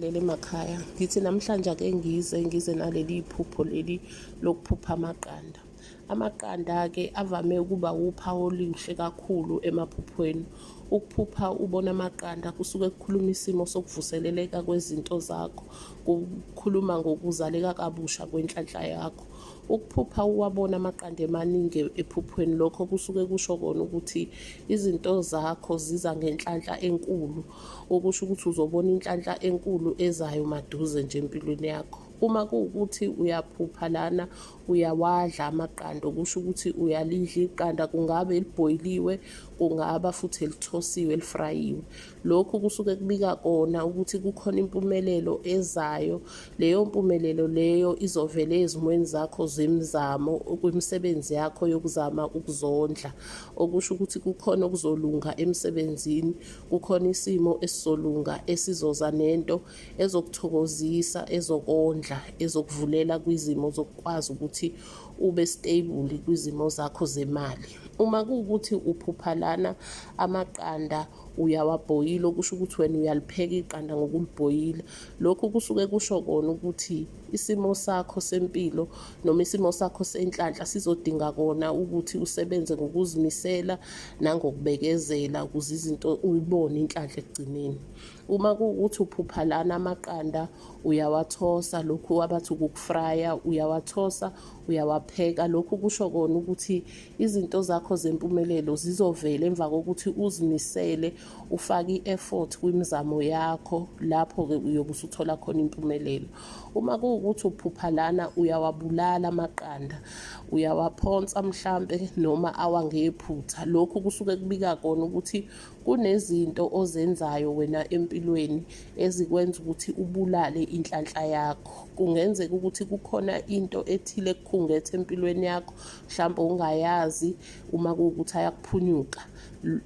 lele emakhaya ngithi namhlanje ake ngize ngize naleli iphupho leli lokuphupha amaqanda amaqanda-ke avame ukuba wuphawu oluhle kakhulu emaphuphweni ukuphupha ubona amaqanda kusuke kukhuluma isimo sokuvuseleleka kwezinto zakho kukhuluma ngokuzaleka kabusha kwenhlanhla yakho ukuphupha uwabona amaqanda emaningi ephuphweni lokho kusuke kusho kona ukuthi izinto zakho ziza ngenhlanhla enkulu okusho ukuthi uzobona inhlanhla enkulu ezayo maduze nje empilweni yakho uma kuwukuthi uyaphupha lana uyawadla amaqanda okusho ukuthi uyalidla iqanda kungabe elibhoyiliwe kungaba futhi elithosiwe elifrayiwe lokhu kusuke kubika kona ukuthi kukhona impumelelo ezayo leyo mpumelelo leyo izovela ezimweni zakho zemizamo kwimisebenzi yakho yokuzama ukuzondla okusho ukuthi kukhona okuzolunga emsebenzini kukhona isimo esisolunga esizoza nento ezokuthokozisa ezokondla ezokuvulela kwizimo zokukwazi ukuthi ube stable kwizimo zakho zemali uma kuwukuthi uphupha lana amaqanda uyawabhoyila okusho ukuthi wena uyalipheka iqanda ngokulibhoyila lokhu kusuke kusho kona ukuthi isimo sakho sempilo noma isimo sakho senhlanhla sizodinga kona ukuthi usebenze ngokuzimisela nangokubekezela ukuze izinto uyibone inhlanhla ekugcineni uma kuwukuthi uphupha lana amaqanda uyawathosa lokhu abathi ukukufraya uyawathosa uyawapheka lokhu kusho kona ukuthi izinto zakho zempumelelo zizovela emva kokuthi uzimisele ufake i-effort kwimizamo yakho lapho-ke uyobe usuthola khona impumelelo uma kuwukuthi uphupha lana uyawabulala amaqanda uyawaphonsa mhlampe noma awangephutha lokhu kusuke kubika kona ukuthi kunezinto ozenzayo wena empilweni ezikwenza ukuthi ubulale inhlanhla yakho kungenzeka ukuthi kukhona into ethile kukhungethe empilweni yakho mhlawumbe ungayazi uma kuwukuthi ayakuphunyuka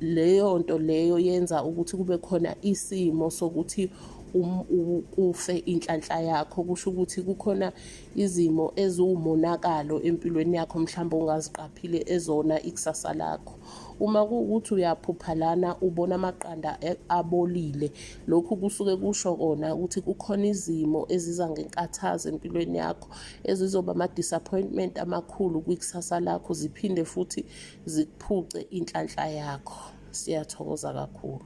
leyo nto leyo yenza ukuthi kube khona isimo sokuthi um, ufe inhlanhla yakho kusho ukuthi kukhona izimo eziwumonakalo empilweni yakho mhlawumbe ongaziqaphile ezona ikusasa lakho uma kuwukuthi uyaphupha lana ubona amaqanda e, abolile lokhu kusuke kusho kona ukuthi kukhona izimo eziza ngenkathazo empilweni yakho ezizoba ama-disappointment amakhulu kwikusasa lakho ziphinde futhi zikuphuce inhlanhla yakho siyathokoza kakhulu